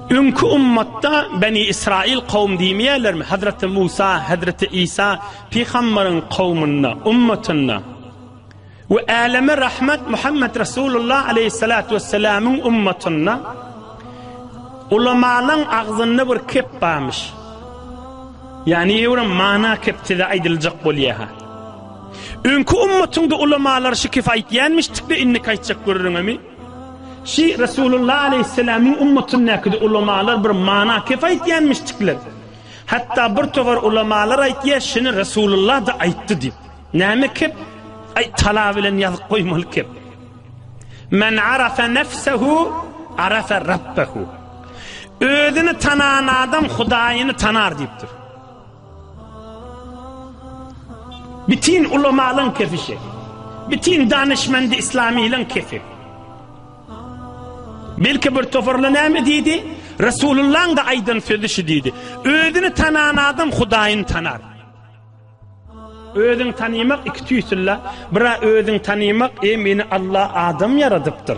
Öňki ummatda Beni Israil kowum diýmeýärlermi? Hazreti Musa, Hazreti Isa pygamberiň kowmunda, ummatynda. We äleme rahmet Muhammed Resulullah aleyhissalatu vesselamyň ummatynda. Ulamalaryň agzynda bir kep barmyş. Yani ýewrim mana keptide aýdyljak bolýa-ha. Öňki ummatyňda ulamalar şu kepi aýtýanmyşdykda, indiki aýtjak görüriňmi? Şi Resulullah aleýhissalamyň ummatyndakide ulamalar bir mana kep aýtýanmişdikler. Hatda bir togar ulamalar aýtýa şini Resulullah da aýtdy diýip. Näme kep? Aý tala bilen ýazyp goýmaly kep. Men arafa nefsehu arafa rabbehu. Özüni tanan adam Hudaýyny tanar diýipdir. Bitin ulamalyň kesişi. Bitin danyşmendi islamylyň kesip. Belki bir toparla näme diýdi? Resulullaň da aýdan sözi şu diýdi. Özüni tanan adam Hudaýyny tanar. Özüň tanymak iki tüýsülla, bira özüň tanymak, eý meni Allah adam ýaradypdyr.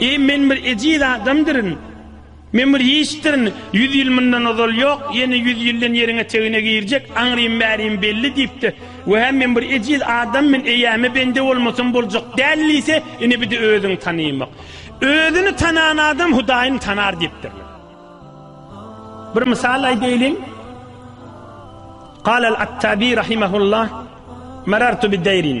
Eý, men bir ejiz adamdyryn. Men bir hiçdirin. Ýüz ýyl mundan ozal ýok, ýene ýüz ýyldan ýeriň etegine girjek, aňrym-bärim belli diýipdi. Wä, men bir ejiz adam, men eýäme bende bolmasam boljak däl diýse, ine bide özüňi tanaýmak. Özüni tanan adam Hudaýyny tanar diýipdirler. Bir mysal aýdaýlyň. Galal Attabi rahimehullah, Marartu bi daýrin.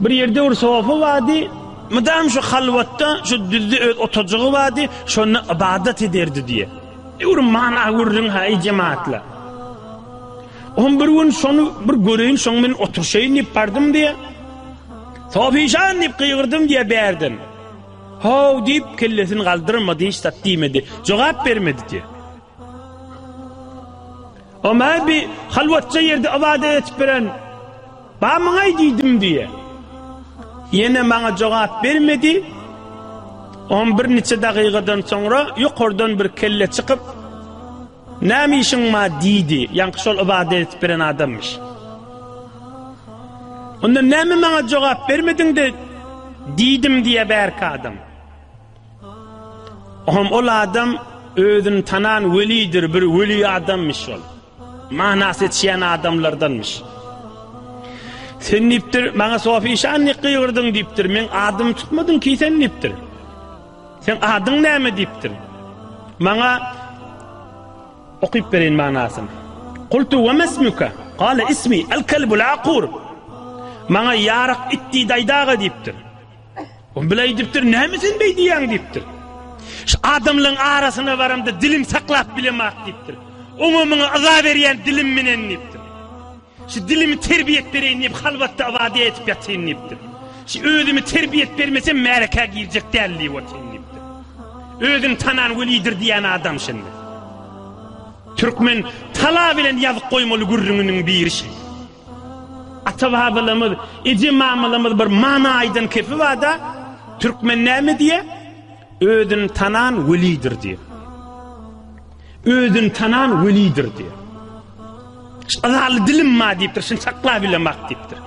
Bir ýerde bir sofa bardy. Mydam şu halwatda, şu düzde öz oturjygy bardy, şonda ybadat ederdi diýýär. Ýörüň, mana görüň-hä, eý jemaatlar. Oňa bir gün şony bir göreýin, şoň bilen oturşaýyn diýip bardym diýýär. Sofişan diýip gygyrdym diýýär bärden. Haw diýip kellesini galdyrmady, hiç zat diýmedi. Jogap bermedi diýýär. Oma bir halwatça ýerde ybadat edip bilen Bamyňaý diýdim diýe. Ýene maňa jogap bermedi. On birniçe dagygadan soňra ýokardan bir kelle çykyp, Näme işiň ma diýdi. Ýaňky şol ybadat edip beren adamyş. Onda näme maňa jogap bermediň-de diýdim diýe bärki adam. Ohm ol adam özüni tanan welidir, bir weli adammış ol. Manas etýän adamlardanmış. Sen dipdir, maňa Sofi şan ne gyýyrdyň dipdir. Men adymy tutmadyň ki sen dipdir. Sen adyň näme dipdir? Maňa okyp berin manasyny. Qultu we mesmuka? Qala ismi al-kalbul aqur. Maňa ýarak it diýdi aýdaga dipdir. O bile edipdir, näme sen bey diýýäň diýipdir. Şu adamlaryň arasyna baramda dilim saklap bilemak diýipdir. Oňa muňa yza berýän dilim menen diýipdir. Şu dilimi terbiýet bereýin diýip halwatda ibade etip ýatyn diýipdir. Şu özümi terbiýet bermesem märeke girjek däl diýip otyn diýipdir. Özün tanan welidir diýen adam şindi. Türkmen tala bilen ýazyk goýmaly gürrüňiniň biri şindi. Ata-babalarymyz, eje-mamalarymyz bir mana aýdan kepi bar-da, Türkmen näme diýýär? Özüni tanan welidir diýýär. Özüni tanan welidir diýýär. Azaly dilim ma diýipdir, şuny saklap bilemak diýipdir.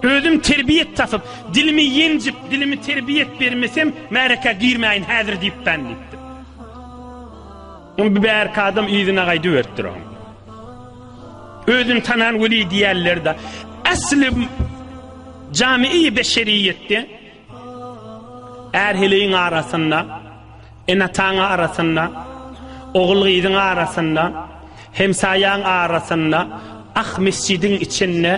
Özüm terbiýet tapyp, dilimi ýenjip, dilimi terbiýet bermesem, märeke girmäýin häzir diýipden diýipdir. Ol bu bärki adam yzyna gaýdyp ötdür oň. Özüni tanan weli diýerler-de, äsli jami-i beşeriýetde ärheleýiň arasynda, enataň arasynda, ogul-gyzyň arasynda, hemsaýaň arasynda, ah mesjidiň içinde,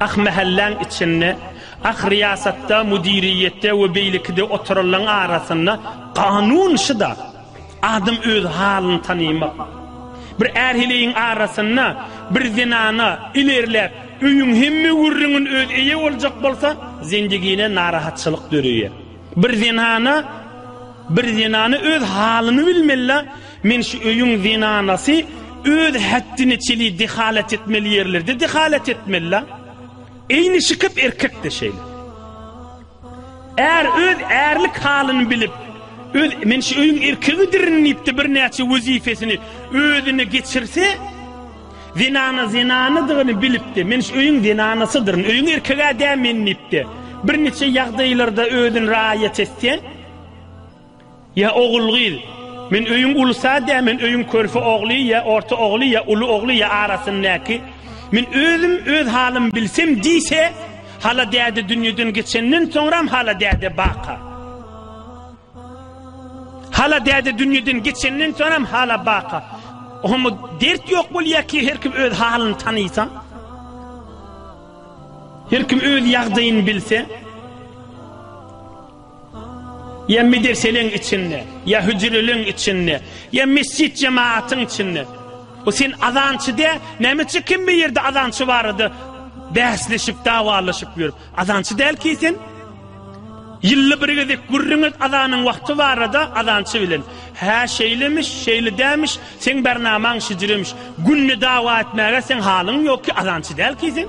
ah mähelläň içinde, ah riýasatda, müdiriýetde we beýlekide oturanlaň arasynda kanun şyda. Adam öz halyny tanaýmak. Bir är-heleýiň arasynda bir zenana ilerläp, öýüň hemme gürrüňin özi eýe boljak bolsa, zendigine narahatçylyk döreýär. Bir zenana bir zenana öz halyny bilmeli-la, men şu öýüň zenanasy öz hetdine çeli dehalat etmeli ýerlerde dehalat etmeli-la. Eýni şykyp erkek-de şeýle. Är öz ärlik halyny bilip, öz men şu öýüň erkegidirin diýip-de birnäçe wezipesini özüne geçirse, zenana zenanydygyny bilip-de, men şu öýüň zenanasydyryn, öýüň erkegi-ä dä men diýip-de, birniçe ýagdaýlarda özüni raýat etse, Ýa ogul-gyz? Men öýüň ulysy-a dä, men öýüň körpe ogly, ýa orta ogly, ýa uly ogly, ýa arasyndaky. Men özüm öz halymy bilsem diýse, Hala däde dünýeden geçenden soňram Hala däde baka. Hala däde dünýeden geçenden soňram Hala baka. Oňa dert ýok bolýar ki, her kim öz halyny tanysa. Her kim öz ýagdaýyny bilse. Ýa medreseleň içinde, ýa hüjreleň içinde, ýa mesjit jemaatyň içinde. Bu sen azançy dä, nämeçe kim bir ýerde azançy barada bäsleşip, dawalaşyp ýörüp. Azançy däl ki sen. Ýylda bir gezek gürrüňet azanyň wagty barada azançy bilen. Hä şeýlemiş, şeýle dämiş, seň bernamaň şijremiş. Günde dawa etmäge seň halyň ýok ki, azançy däl ki sen.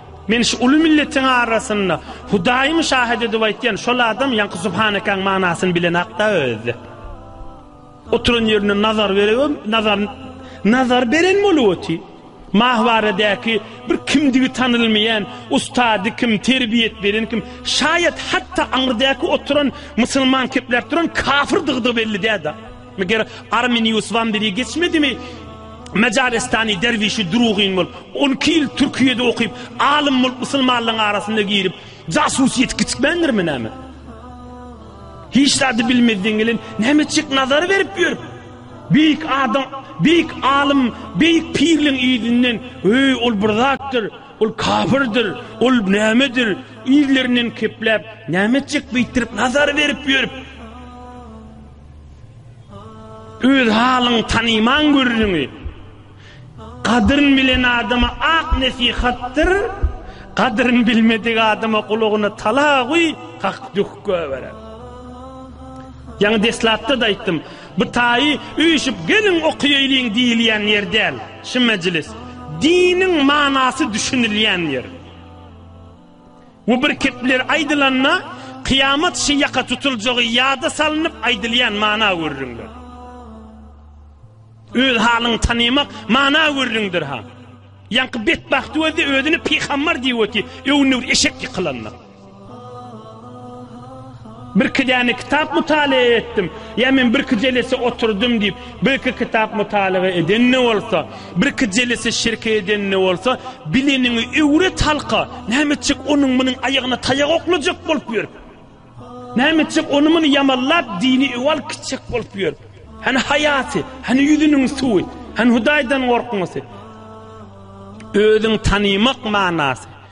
Men şu uly milletiň arasynda Hudaýym şahit edip aýtýan, şol adam ýaňky Subhanekaň manysyny bilen hakda özi. Oturan ýerinde nazar beregem, nazar nazar beren bolup otyr. Mahwaradäki bir kimdigi tanylmaýan ustady kim, terbiýet beren kim, şaýat hatda aňyrdäki oturan musulman kepläp duran kafyrdygy-da belli däl-de. Meger Arminius Wamberi geçmedimi? Majaristany derwişi Durugyn bolup, on iki ýyl Türkiýede okyp, alym bolup musulmanlaryň arasyna girip, jasusyýeti kiçikmändirmi näme? Hiç zady bilmezden gelen näme etjek nazar berip ýör? Beýik adam, beýik alym, beýik pirliň yzyndan, öý ol bir zatdyr, ol kapyrdyr, ol nämedir, yzlaryndan kepläp, näme etjek beýtdirip nazar berip ýörüp? Öz halyň tanyman gürrüňi. Gadryn bilen adama ak nesihatdyr, gadryn bilmedik adama gulagyna tala guý, hak dük göberer. Ýaňy deslapda-da aýtdym, bu taýy üýşüp geliň okaýaýlyň diýilýän ýer däl, şu mejlis, diniň manasy düşünilýän ýer. Bu bir kepler aýdylanda, kyýamat şy ýaka tutuljagy ýada salnyp aýdylýan mana gürrüňdir. Öz halyňy tanymak mana gürrüňdir ha. Ýaňky betbagt özi özüni pygambar diýip öti, öwni bir eşek ýykylanda. Birki däne kitap mutalaýa etdim, ýa men birki jelese oturdym diýip, birki kitap mutalaga eden-de bolsa, birki jelese şirke eden-de bolsa, bileniňi öwret halka, näme etjek onuň-munuň aýagyna taýak oklajak bolup ýörüp? Näme etjek ony-muny ýamallap, dini öwal gitjek bolup ýörüp? Hany haýasy, hany ýüzüniň suwy, hany Hudaýdan gorkmasy? Özüň tanymak manasy.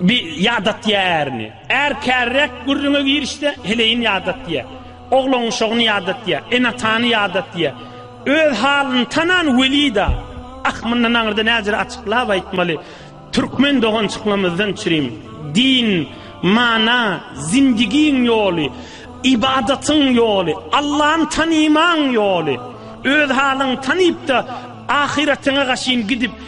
Bi ýada diýýär ärini. Är kärräk gürrüňe girişse, heleýini ýada diýýär. Oglan uşagyny ýada diýýär. Ene-atany ýada diýýär. Öz halyny tanan weli-da, Ah, mundan aňyrda näzir açyklap aýtmaly. Türkmen dogançyklarymyzdan çirim. Din, mana, zindigiň ýoly, ybadatyň ýoly, Allany tanymaň ýoly. Öz halyňy tanyp-da, ahyratyňa gaşyn gidip,